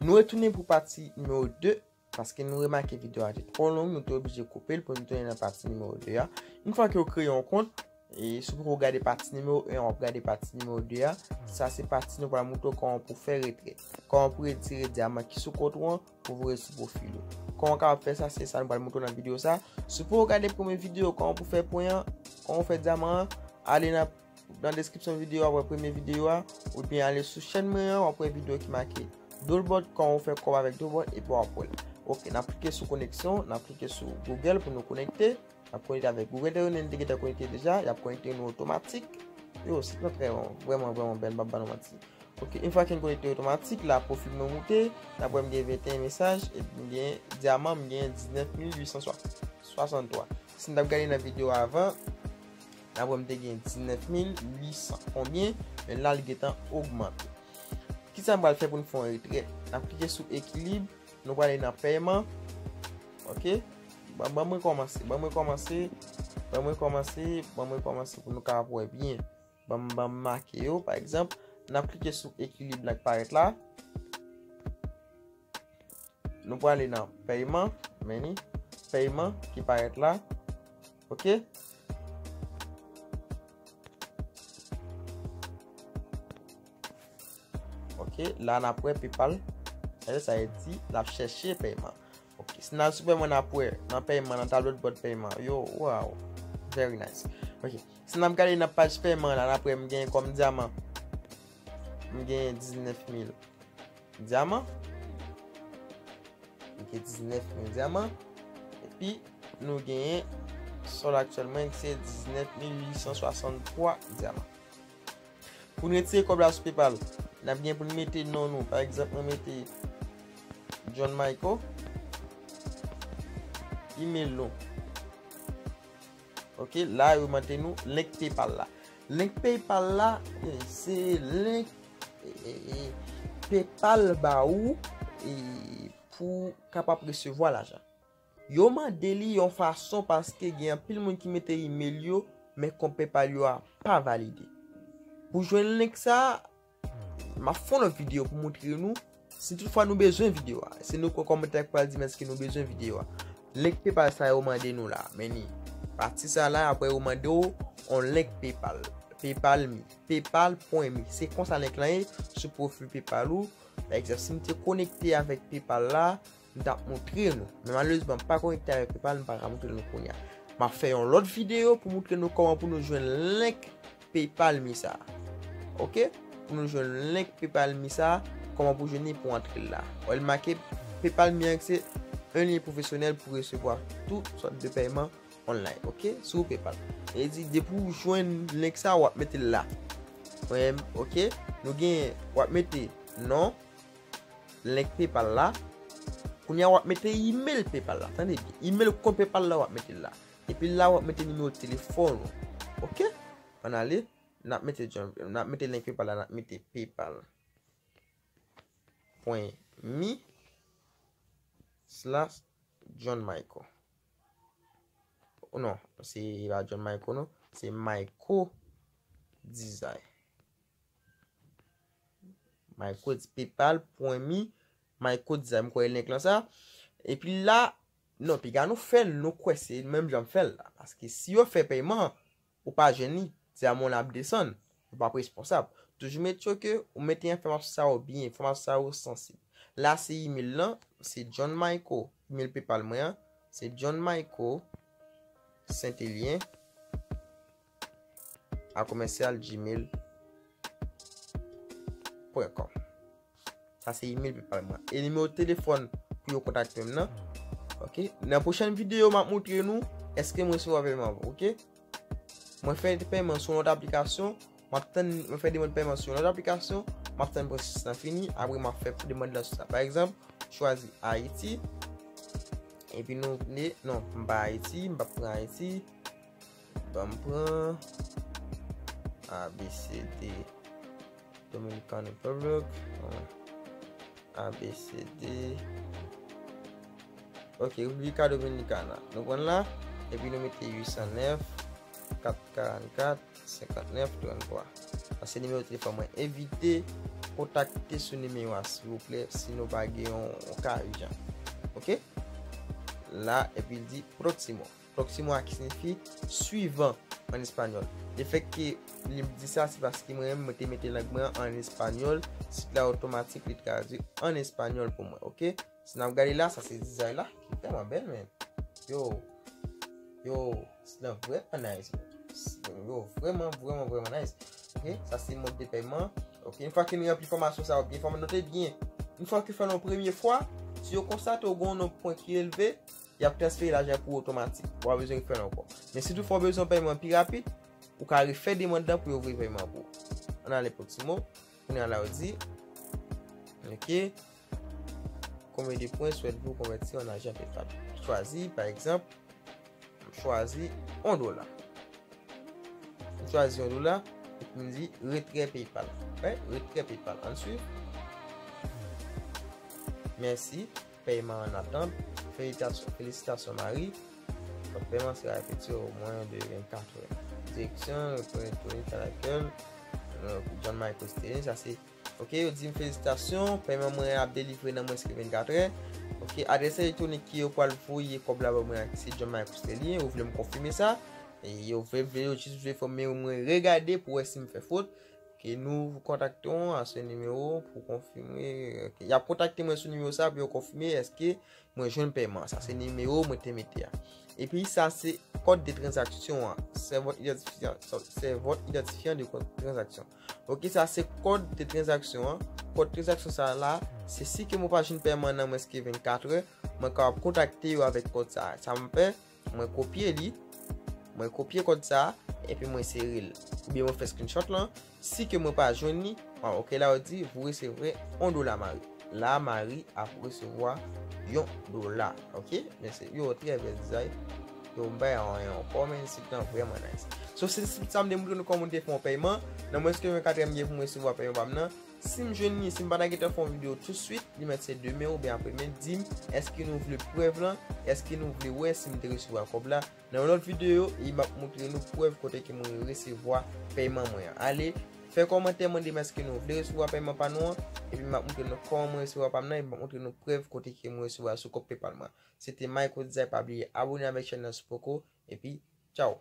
Nou retounen pou pati nimewo 2, paske nou remake video a te twò long, nou te oblije koupe l pou nou tounen nan pati nimewo 2 a. Yon fwa ke ou kreye yon kont, e si ou poko gade pati nimewo 1 an, wap gade pati nimewo 2 a, sa se pati nou pral moutre w kòman pou fè retrè, kòman pou retire dyaman ki sou kont ou an pou voye sou pwofil ou. Kòman ou kapab fè sa, se sa nou pral moutre w nan video sa. Si ou poko gade premye video kòman pou fè pwen an, kòman pou fè dyaman an, ale nan. Nan deskripsyon videyo a wap wè premye videyo a, oubyen ale sou chèn mwen an wap wè videyo ki make Dolbot kòman ou fè kòb avèk Dolbot epi wap wèl. Ok nap klike sou koneksyon, nap klike sou Google pou nou konekte, nap konekte avèk Google dèyè nou te gentan konekte deja, yap konekte nou otomatik. Yo sit lan trè bon, vrèman vrèman bèl map ba nou manti. Ok une fwa ke nou konekte otomatik la pwofil mwen moute, nap wè m gen 21 mesaj epi m gen dyaman m gen 19863. Sin tap gade nan videyo avan. Dabwè m te gen 19800 konbyen, men la li gentan ogmante. Kisa m pral fè pou n fè yon retrè? N ap klike sou ekilib, nou prale nan pèyman, ok, ban mwen rekòmanse, ban mwen rekòmanse, ban mwen rekòmanse, ban mwen rekòmanse pou nou kapab wè byen. Ban m ban m make yo, pa egzanp, n ap klike sou ekilib la k parèt la. Nou prale nan pèyman, meni, pèyman ki parèt la. Ok. Ok, la nan prè paypal. Ebe sa e di, la chèche pèyman. Ok, si nan soupe mwen nan prè, nan pèyman, nan tablo de bòt pèyman. Yo, waw, very nice. Ok, si nan prè nan paj pèyman la, nan prè mwen gen kòm diaman. M genyen 19 mil dyaman. M genyen 19 mil dyaman. E pi nou genyen sòl aktyèlman ki se 19 mil 863 dyaman. Pou nou etire kòb la sou paypal, n ap gen pou nou mete non nou. Pa egzanp mwen mete John Michael. Email nou. Ok la yo mande nou link paypal la Link paypal la se link paypal ba ou pou kapab resevwa lajan Yo mande li yon fason paske gen anpil moun ki mete email yo men kont paypal yo a pa valide Pou jwenn link sa M ap fon lòt videyo pou moutre nou. Si tout fwa nou bezwen videyo a. Se nou kwe komantè a ki pral di men ske nou bezwen videyo a. Link paypal sa yo mande nou la. Men ni. Pati sa la apre yo mande ou on link paypal. Paypal mi. Paypal pwen mi. Se konsa link lan ye. Sou profil paypal ou. Ekzanp si m te konekte avèk paypal la. m tap moutre nou men malerezman m pa konekte avèk paypal m paka moutre nou kounya map fè yon lòt videyo pou moutre nou kòman pou nou jwenn link paypal mi sa ok pou nou jwenn link paypal mi sa kòman pou jwenn li pou antre la wè l make paypal mi an se yon lyen pwofesyonèl pou resevwa tout sòt de pèyman online ok sou paypal e di depi w jwenn link sa wap mete l la wè m ok nou gen wap mete non Link paypal la. Kounya wap mete email paypal la. Tande byen. Email kont paypal la wap mete la. Epi la wap mete nimewo telefon ou. Ok. An ale. Nap mete jom. Nap mete link paypal la. Nap mete paypal. Pwen. Mi. Slash. John Michael. Ou non. Se la John Michael non. Se Michael. Dizay. My codes paypal pwen me my codes a m kwè e link lan sa epi la non piga nou fèl nou kwè se menm janm fèl la paske si yo fè pèyman an ou pa jwenn li diamond lan ap desann nou pap responsab toujou make sure ke ou mete enfòmasyon sa yo byen enfòmasyon sa yo sansib la se email lan se John Mayco email paypal mwen an se John Mayco Saintelien a commercial gmail point com sa se email paypal mwen e nimewo telefòn pou yo kontakte m nan ok nan pwochèn videyo m ap moutre nou eske m resevwa pèyman avan ok mwen fè yon pèyman sou yon lòt aplikasyon m ap tann mwen fè demand pèyman sou yon lòt aplikasyon m ap tann pwosesis lan fini apre m ap fè demand lan sou sa pa egzanp chwazi Haiti epi nou vle non m pa Haiti m pa pran Haiti Banm pran abcd Dominican Republic abcd ok Republica Dominicana nou pran la epi nou mete 809 444 59 33 sa se nimewo telefòn mwen evite kontakte sou nimewo a silvouplè si nou pa gen yon ka ijan ok la epi l di proximo. Próximo a ki signifi suivan an espanyòl. Lefèt ke li di sa se paske mwen menm mwen te mete lang mwen an an espanyòl, sit la otomatik li tradui an espanyòl pou mwen ok. Si n ap gade la sa se dizay la ki tèlman bèl men yow yow sit lan vrèman nice bro. Yow vrèman vrèman vrèman nice ok. Sa se mòd de pèyman ok. Yon fwa ke nou ranpli fòmasyon sa yo byen fòm note byen yon fwa ke fè l yon premye fwa si yo konstate w gen yon nonb pwen ki elve. y ap transfere lajan pou ou otomatik, ou pa bezwen fè l ankò. Men si toutfwa ou bezwen yon peyeman pi rapid, ou ka refè demand lan pou yo voye peyeman an pou ou. An ale pou ti mo, kounye a la yo di, ok, konbyen de pwen swèt vou konvèti an ajan PayPal? Chwazi, pa egzanp, m chwazi 1 dola. M chwazi 1 dola, epi m di retrè PayPal. Wè, retrè PayPal. An swiv. Mèsi. Pèyman an atant, Felisitasyon Mari, Kòb pèyman an sera efektive o mwen de 24 è. Direksyon, Repons elektwonik a lakèl, John Michael Sterling, sa se, Ok, yo di m felisitasyon, pèyman mwen an ap delivre nan mwens ke 24 è. Ok, adrès elektwonik ke yo pral voye kòb la ba mwen an se John Michael Sterling, yo vle m konfime sa. Yo vle, yo jis vle fè m, men mwen regade pou wè si m fè fot. Ke nou kontakte ou a se nimewo pou konfime, y ap kontakte mwen sou nimewo sa pou yo konfime eske mwen jwenn pèman sa. Se nimewo mwen te mete a. E pi sa se kòd de tranzaksyon an. Se vòt idantifyan, se vòt idantifyan de kòd tranzaksyon. Ok, sa se kòd de tranzaksyon an. Kòd tranzaksyon sa la, se si ke mwen pa jwenn pèman nan mwens ke 24 è, mwen ka kontakte yo avèk kòd sa. Sa mwen fè? Mwen kopye li. Mwen kopye kòd sa. Epi mwen sere l. Ou byen mwen fè screenshot lan. Si ke mwen pa jwenn li. An ok la ou di. Vou resevre on dola mari. La mari ap resevwa yon dola. Ok. Mèsi. Yo trè bèl dizay. Yo m bay an yon kò men. Sit lan vreman nice. So sit sa m te moutre nou kòman te fè yon pèyman. Nan mwens ke yon katrèm gen pou mwen resevwa pèyman pa m nan. Sim jwenn li sim pata gentan fè yon video tout swit li mèt se demen oubyen apre men dim eske nou vle prèv lan eske nou vle wè sim te resevwa kòb la nan yon lòt video e map moutre nou prèv kote ke mwen resevwa pèyman mwen an ale fè kòmantè mandem eske nou vle resevwa pèyman pa nou an epi map moutre nou kòman mwen resevwa pam nan epi map moutre nou prèv kote ke mwen resevwa sou kòb paypal mwen se te Mayco Dizay pa bliye abone avèk chèn nan si w poko epi tchaww.